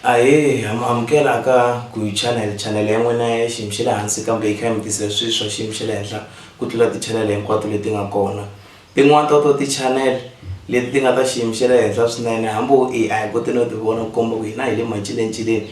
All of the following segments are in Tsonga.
ahee ha mu amukela ka guy channel channel ya n'wina ya xiyimo xa le hansi kambe yi kha yi mi tisela swilo swa xiyimo xa le henhla ku tlula ti-channel hinkwato leti nga kona tin'wani ta to ti-channel leti ti nga ta xiyimo xa le henhla swinene hambi wo i a hi koti no ti vona ku komba ku hina hi le macilencileni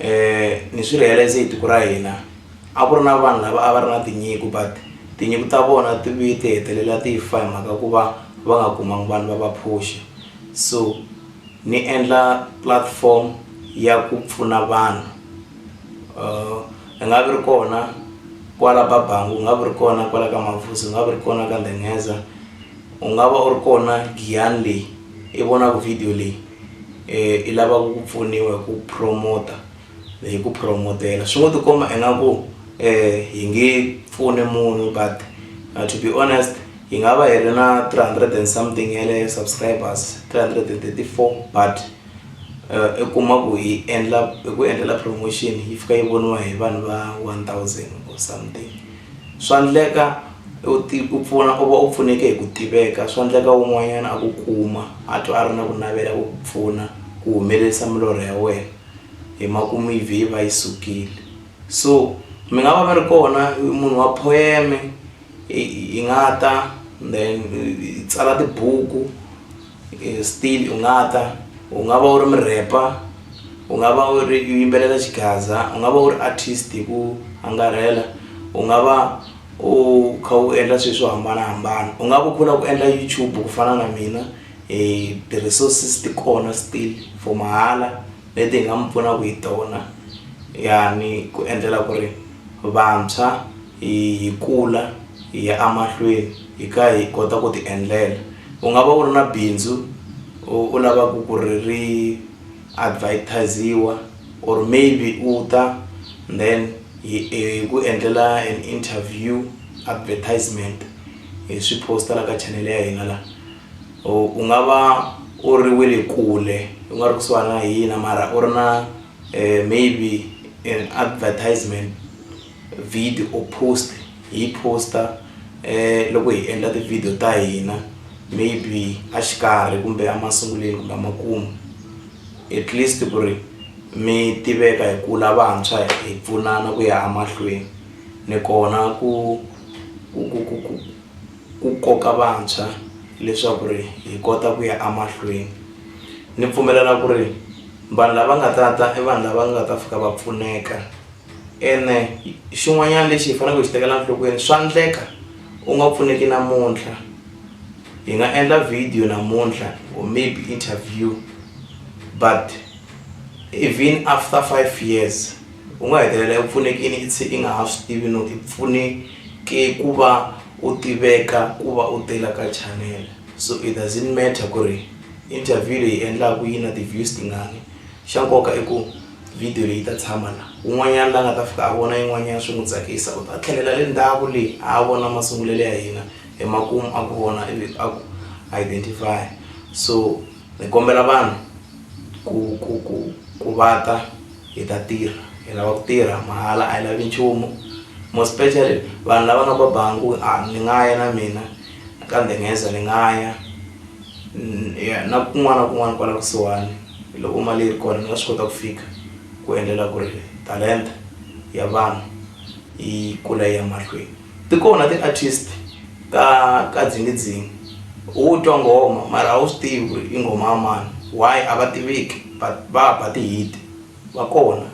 um ni swi realize hi tiko ra hina a ku ri na vanhu lava a va ri na tinyiko but tinyiko ta vona ti vuye ti hetelela ti fa hi mhaka ku va va nga kumangi vanhu va va phuxa so ni endla platform ya ku pfuna vanhu um hi nga vi ri kona kwala babangu u nga vi ri kona kwala ka mavuso u nga vi ri kona ka ndhengheza u nga va u ri kona giyani leyi i vonaku video leyi. i lavaka ku pfuniwa hi ku promote hi ku promotela swi ngo ti komba ingaku um hi nge pfuni munhu but uh, to be honest hi nga va hi ri na 300 and something ya le subscribers 334 but uh, i kuma ku hi endla hi ku endlela promotion yi fika yi voniwa hi vanhu va 1000 or something Swa ndleka u ti u pfuna u va u pfuneke hi ku tiveka swa ndleka un'wanyana a ku kuma a twa a ri na ku navela ku ku pfuna ku humelerisa milorho ya wena hi makumu yi vhe yi va yi sukile so mi nga va mi ri kona munhu wa poem-e hi nga ta then hi tsala tibuku. still u nga ta u nga va u ri murhepa u nga va u ri u yimbelela xigaza u nga va u ri artist hi ku angarhela u nga va u kha u endla swilo swo hambanahambana u nga va u khula ku endla YouTube ku fana na mina hi ti-resources ti kona still for mahala leti hi nga mi pfunaka hi tona ya ni ku endlela ku ri vantshwa. hi kula hi ya emahlweni hi kha hi kota ku ti endlela u nga va u ri na bindzu u lavaka ku ri ri advertise-iwa or maybe u ta then hi ku endlela an interview advertisement hi swi post-a la ka chanel ya hina la u nga va u ri we le kule u nga ri kusuhani na hina mara u ri na maybe an advertisement. Vhidi or post hi poster loko hi endla ti video ta hina maybe a xikarhi kumbe a masunguleni kumbe a makumu at least ku ri mi tiveka hi kula vantshwa hi pfunana ku ya a mahlweni ni kona ku ku ku ku ku ku koka vantshwa leswaku ri hi kota ku ya a mahlweni ni pfumelela ku ri vanhu lava nga ta ta i vanhu lava nga ta fika va pfuneka. ene xin'wanyana lexi hi faneleke hi xi tekela nhlokweni swa endleka u nga pfuneki namuntlha hi nga endla video namuntlha or maybe interview but even after five years u nga hetelela u pfunekini i tshe i nga ha swi tivi no i pfuneke ku va u tiveka ku va u tela ka channel so it doesn't matter ku ri interview leyi endlaku yi na ti-views tingani xa nkoka i ku Vhidiyo leyi yi ta tshama laha. Un'wanyana la nga ta fika a vona yin'wanyana swi n'wi tsakisa, u ta tlhelela le ndzhaku le a a vona masungulelo ya hina, emakumu a ku vona ivi a ku identify-a. So ni kombela vanhu ku ku ku ku va ta hi ta tirha, hi lava ku tirha mahala a hi lavi nchumu. More especially vanhu lava nga ba bangi ku a ni nga ya na mina ka Nghenezo ni nga ya na kun'wana na kun'wana kwala kusuhani. Loko mali yi ri kona, ni nga swi kota ku fika ku endlela ku ri talenta ya vanhu yi kula yi ya mahlweni. Ti kona ti-artist ta ka Dzingidzingi, u twa nghoma mara a wu swi tivi ku ri i nghoma ya mani. Why? A va tiveki but va ba ti-hit-i, va kona.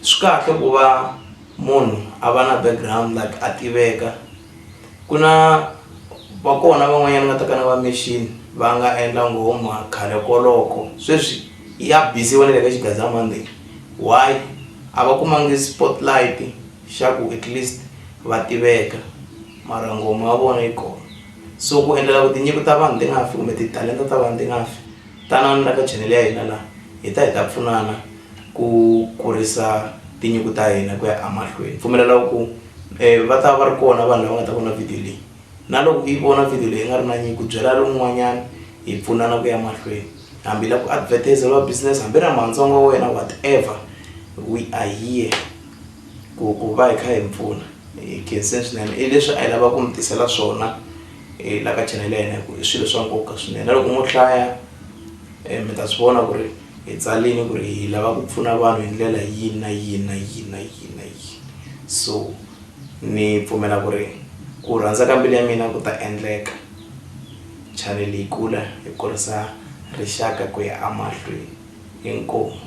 Swi kahle ku va munhu a va na background like a tiveka. Ku na va kona van'wanyana va ta ka na va machine va nga endla nghoma khale koloko sweswi ya bisiwa na le ka xigandzamananga lexi why a va kumangi spotlight xa ku at least va tiveka mara nghoma ya vona yi kona so ku endlela ku tinyiko ta vanhu ti nga fi kumbe titalenta ta vanhu ti nga fi tanani la ka channel ya hina laha hi ta hi ta pfunana ku kurisa tinyiko ta hina ku ya emahlweni pfumelela ku. um va ta va ri kona vanhu lava nga ta vona video leyi na loko yi vona video leyi nga ri na nyinyi ku byela lowun'wanyana hi pfunana ku ya mahlweni hambi la ku advertiseriwa business hambi ra mantsongo wa wena whatever we are here ku ku va hi kha hi mpfuna hi khensen swinene i leswi a yi lava ku mi tisela swona um la ka chanele ya hina hi ku i swilo swa nkoka swinene na loko mo hlaya um mi ta swi vona ku ri Hi tsalini ku ri hi lava ku pfuna vanhu hi ndlela yini na yini na yini na yini na yini. So, ni pfumela ku ri ku rhandza ka mbilu ya mina ku ta endleka. Chanele yi kula hi kurisa rixaka ku ya emahlweni. Inkomu.